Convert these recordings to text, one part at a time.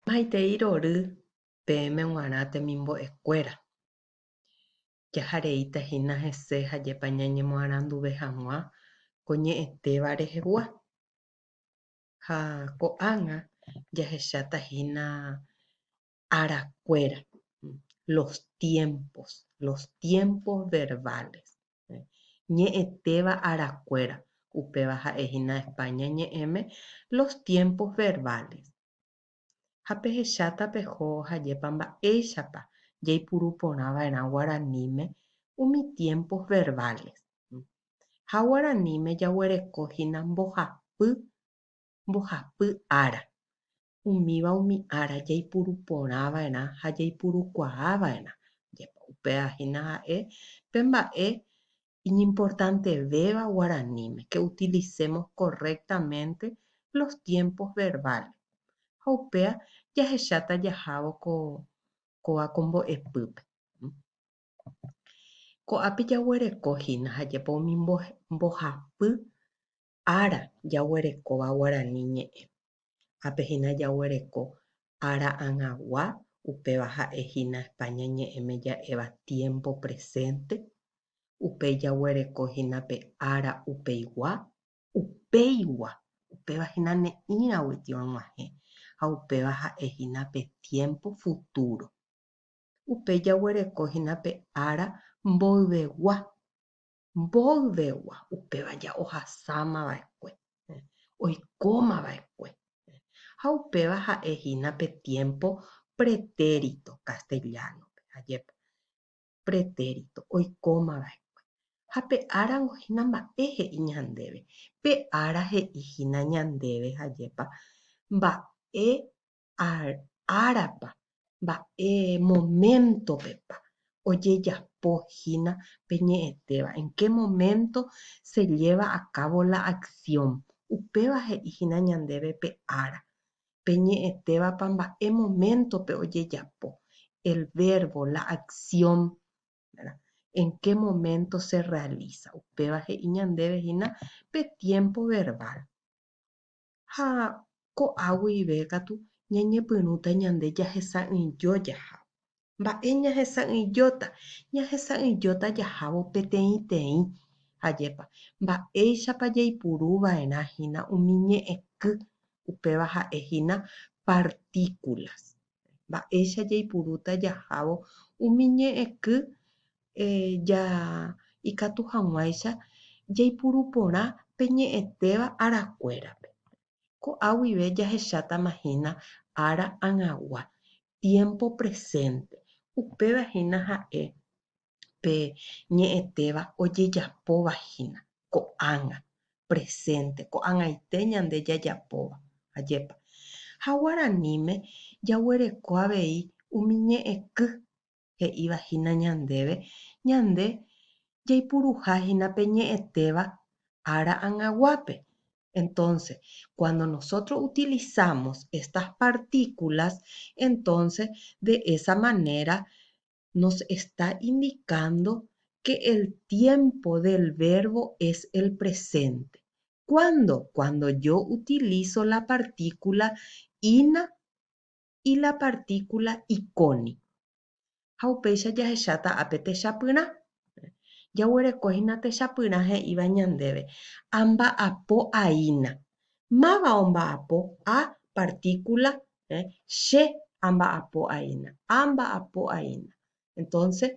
Maitei rory peẽme g̃uarã temimbo'ekuéra. Jahareíta hína hese ha jepa ñañemoaranduve hag̃ua ko ñe'ẽtéva rehegua. Ha ko'ág̃a jahecháta hína arakuéra, los tiempos, los tiempos verbales, ñe'ẽtéva arakuéra, upéva ha'e hína España ñe'ẽme, los tiempos verbales, ha pehecháta peho hajépa mba'éichapa jaipuru porã va'erã guaraníme umi tiempos verbales. Ha guaraníme jaguereko hína mbohapy, mbohapy ára, umíva umi ára jaipuru porã va'erã ha jaipurukuaa va'erã. Jepa upéva hína ha'e pe mba'e iñimportantevéva guaraníme ke utilisémos korrektamente los tiempos verbales. Ha upéva jahecháta jahávo ko kóva ko mbo'epýpe. Ko'ápe jaguereko hína ha jepa umi mbohapy ára jaguerekóva guarani ñe'ẽ, ápe hína jaguereko ára ag̃agua, upéva ha'e hína España ñe'ẽme ja'éva tiémpo presénte, upéi jaguereko hína pe ára upeigua, upéigua, upéva hína ne'ĩragui tiorguahẽ ha upéva ha'e hína pe tiémpo futúro, upéi jaguereko hína pe ára mboyvegua, Mboyvegua upéva ja ohasáma va'ekue, oikóma va'ekue. Ha upéva ha'e hína pe tiémpo pretérito kastellánope, ajépa, pretérito, oikóma va'ekue. Ha pe árango hína mba'e he'i ñandéve. Pe ára he'i hína ñandéve, ajépa, mba'e árapa, mba'e moméntopepa ojejapo hína pe ñe'ẽtéva, en qué momento se lleva a cabo la acción. Upéva he'i hína ñandéve pe ára, pe ñe'ẽtévapa mba'e moméntope ojejapo, el verbo, la acción, en qué momento se realiza. Upéva he'i ñandéve hína pe tiempo verbal. ha ko'a guive katu ñañepyrũta ñande jahesa'ỹijo jahávo. Mba'e ñahesa'ỹijóta? Ñahesa'ỹijóta jahávo peteĩteĩ. Ajépa, mba'éichapa jaipuru va'erã hína umi ñe'ẽky, upéva ha'e hína partíkulas. mba'éicha jaipurúta jahávo umi ñe'ẽky ja ikatu hag̃uáicha jaipuru porã pe ñe'ẽtéva arakuérape. Ko'a guive jahechátama hína ára ag̃agua, tiémpo presénte, upéva hína ha'e pe ñe'ẽtéva ojejapóva hína ko'ág̃a, presénte, ko'ag̃aite ñande jajapóva, ajépa. Ha guaraníme jaguereko avei umi ñe'ẽky he'íva hína ñandéve ñande jaipuruha hína pe ñe'ẽtéva ára angaguápe. Entonce, cuando nosotros utilizamos estas partículas, entonces de esa manera nos está indicando que el tiempo del verbo es el presente. ¿Cuándo? Cuando yo utilizo la partícula ina y la partícula iconi. Ha upéicha jahecháta ápe techapyrã. Jaguereko hína techapyrã he'íva ñandéve, amba'apo aína. Máva omba'apo? A, partícula ¿eh? Che amba'apo'aína, amba'apo'aína. Entonces,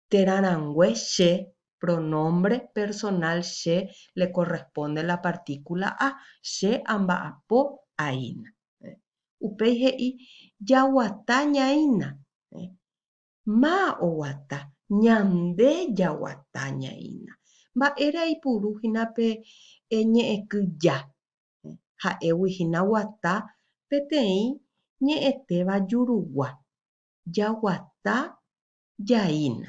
térã rangue che, pronombre personal che, le corresponde la partícula a, che amba'apo'aína. ¿eh? Upéi he'i, jaguata ñaína. ¿eh? Má oguata, ñande jaguata ñaína. Mba'ére aipuru hína pe ñe'ẽky ja? ha'égui hína guata peteĩ ñe'ẽtéva jurugua. Jaguata jaína.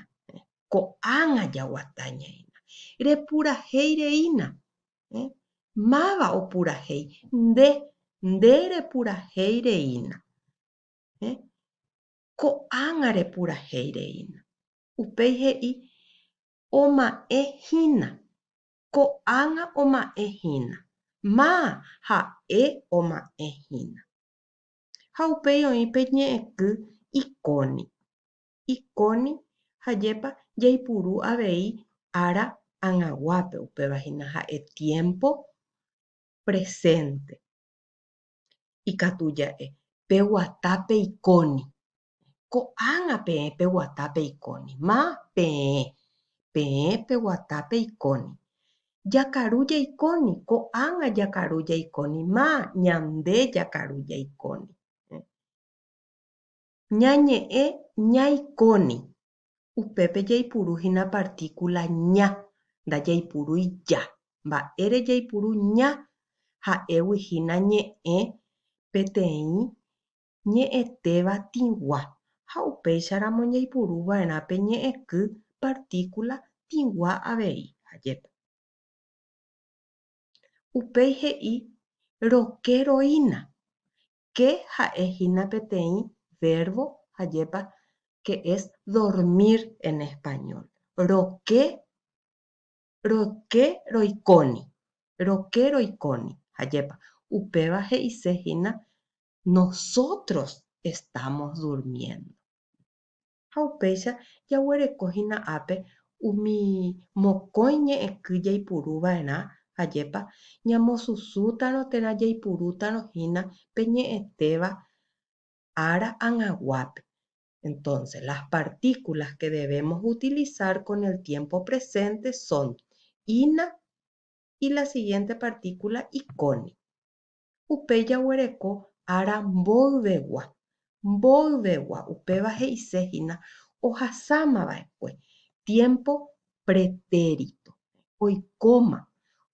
Ko'ág̃a jaguata ñaína. Repurahéi reína. Máva opurahéi? Nde, nde repurahéi reína. Ko'ág̃a repurahéi reína. Upéi he'i, Oma'ẽ hína. ko'ág̃a oma'ẽ hína, ma ha'e oma'ẽ hína. Ha upéi oĩ pe ñe'ẽky Iconi. Iconi hajépa jaipuru avei ára ag̃aguápe, upéva hína ha'e tiémpo presénte. Ikatu ja'e peguata pe Iconi. Ko'ág̃a peẽ peguata peikóni. Ma, peẽ. Peẽ peguata peikóni. Jakaru jaikóni. Ko'ág̃a jakaru jaikóni. Ma, ñande jakaru jaikóni. Ñañe'ẽ ñaikóni. Upépe jaipuru hína partíkula ña, ndajaipurúi ja. Mba'ére jaipuru ña? Ha'égui hína ñe'ẽ peteĩ ñe'ẽtéva tĩgua ha upéicharamo ñaipuru va'erã pe ñe'ẽky partíkula tĩgua avei. Ha jepa. Upéi he'i roke roína. Ke ha'e hína peteĩ vérvo ha jepa que es dormir en español. Roke, roke roikóni. Roke roikóni. Ha jepa. Upéva he'ise hína Nosotros estamos durmiendo. Ha upéicha jaguereko hína ápe umi mokõi ñe'ẽky jaipuru va'erã, ajépa, ñamosusútarõ térã jaipurútarõ hína pe ñe'ẽtéva ára ag̃aguápe. Entonces, las partículas que debemos utilizar con el tiempo presente son, ina y la siguiente partícula ikóni. Upéi jaguereko ára mboyvegua. Mboyvegua upéva he'ise hína ohasáma va'ekue tiémpo pretéritto. Oikóma.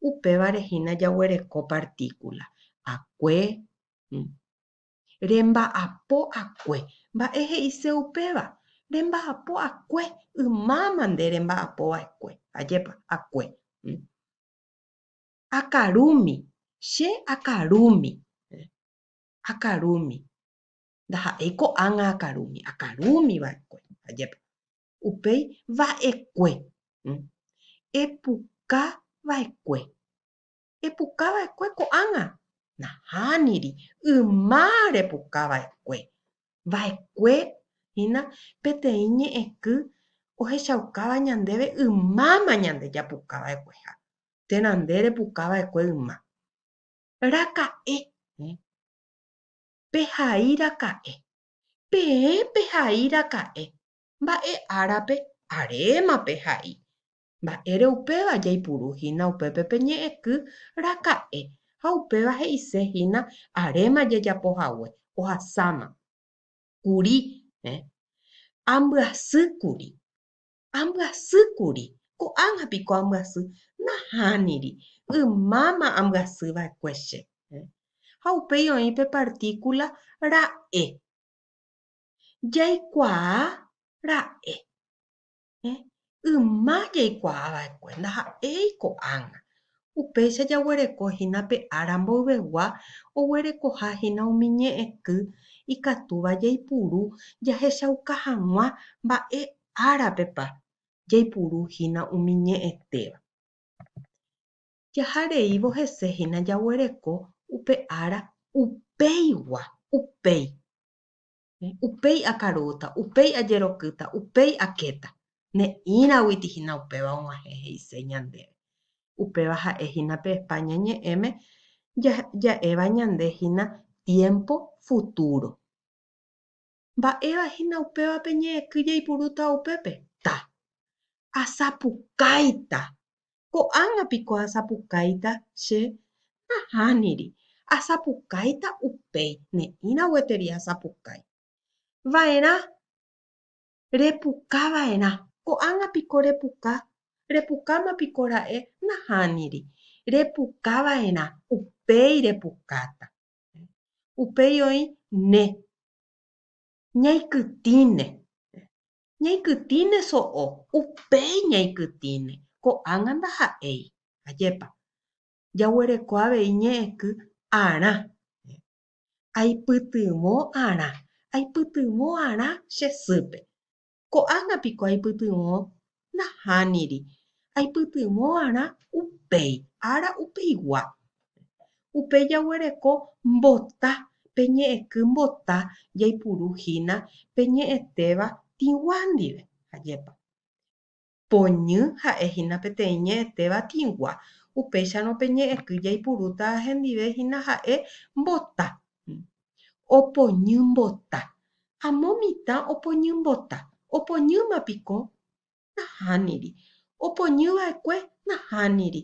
Upévare hína jaguereko partíkula akue. Remba'apo akue. Mba'e he'ise upéva? Remba'apo akue. Ymáma nde remba'apo va'ekue. Ajépa? Akue. akarúmi, che akarúmi, akarúmi. Ndaha'éi ko'ág̃a akarúmi, akarúmi va'ekue, ajépa. Upéi va'ekue, epuka va'ekue, epuka va'ekue ko'ág̃a, nahániri, yma repuka va'ekue. Va'ekue hína peteĩ ñe'ẽky ohechaukáva ñandéve ymáma ñande japuka va'ekueha. térã nde repuka va'ekue yma. Raka'e, ẽ. Pehai raka'e. Peẽ pehai raka'e. Mba'e árape, aréma pehai. Mba'ére upéva jaipuru hína upépe pe ñe'ẽky raka'e ha upéva he'ise hína aréma jajapo hague, ohasáma. Kuri, ẽ. Ambyasy kuri. Ambyasýkuri. Ko'ág̃a piko ambyasy. Nahániri. Ymáma ambyasy va'ekue che. Ha upéi oĩ pe partíkula ra'e. Jaikuaa ra'e. Yma jaikuaa va'ekue. Ndaha'éi ko'ág̃a. Upéicha jaguereko hína pe ára mboyvegua oguerekoha hína umi ñe'ẽky ikatúva jaipuru jahechauka hag̃ua mba'e árapepa jaipuru hína umi ñe'ẽtéva. Jaha reívo hese hína jaguereko upe ára upéigua, upéi. Upéi akarúta, upéi ajerokýta, upéi akéta. Ne'ĩraguiti hína upéva og̃uahẽ he'ise ñandéve. Upéva ha'e hína pe España ñe'ẽme ja'éva ñande hína tiémpo futúro. Mba'éva hína upévape ñe'ẽky jaipurúta upépe? Ta. Asapukáita. Ko'ág̃a piko asapukáita che? Nahániri. Asapukáita upéi, ne'ĩra gueteri asapukái. Va'erã. Repuka va'erã. Ko'ág̃a piko repuka? Repukáma piko ra'e? Nahániri. Repuka va'erã. Upéi repukáta. Upéi oĩ ne. Ñaikytĩne. Ñaikytĩne so'o. Upéi ñaikytĩne. Ko'ág̃a ndaha'éi. Ajépa. Jaguereko avei ñe'ẽky arã. Aipytyvõ arã. Aipytyvõ arã che sýpe. Ko'ág̃a piko aipytyvõ? Nahániri. Aipytyvõ'arã upéi ára upeigua. Upéi jaguereko mbota, pe ñe'ẽky mbota jaipuru hína pe ñe'ẽtéva tĩgua ndive. Ajépa. Poñy ha'e hína peteĩ ñe'ẽte batĩgua, upéicharõ pe ñe'ẽky jaipurúta hendive hína ha'e mbota. Opoñy mbota. Amo mitã opoñy mbota. Opoñýma piko? Nahániri. Opoñy va'ekue? Nahániri.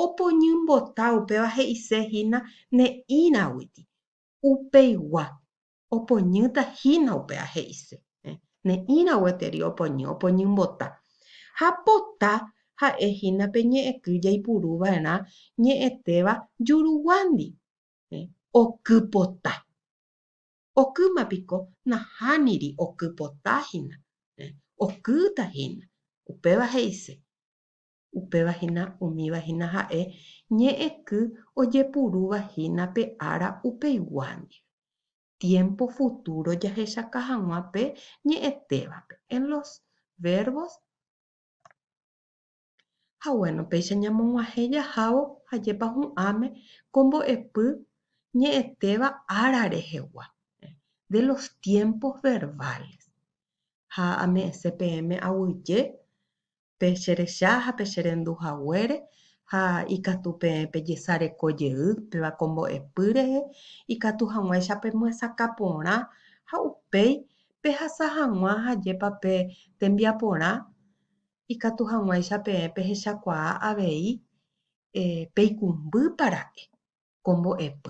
Opoñy mbota upéva he'ise hína ne'ĩraguiti. Upeigua. Opoñýta hína upe ha he'ise. Ne'ĩra gueteri opoñy, opoñymbota. Ha pota ha'e hína pe ñe'ẽky jaipuru va'erã ñe'ẽtéva juruguándi. Oky pota. Okýma piko nahániri oky pota hína. Okýta hína. Upéva he'ise. Upéva hína umíva hína ha'e ñe'ẽky ojepurúva hína pe ára upeigua ndive. Tiémpo futúro jahechaka hag̃ua pe ñe'ẽtévape en los verbos Ha gueno, péicha ñamog̃uahẽ jahávo ajépa hu'ãme ko mbo'epy ñe'ẽtéva ára rehegua, de los tiempos verbales. Ha ame'ẽse peẽme aguyje pe cherecha ha pe cherendu haguére, ha ikatu peẽ pejesareko jey péva ko mbo'epy rehe, ikatu hag̃uáicha pemyesakã porã, ha upéi pehasa hag̃ua ajépa pe tembiaporã, ikatu hag̃uáicha peẽ pehechakuaa avei peikumby para'e ko mbo'epy.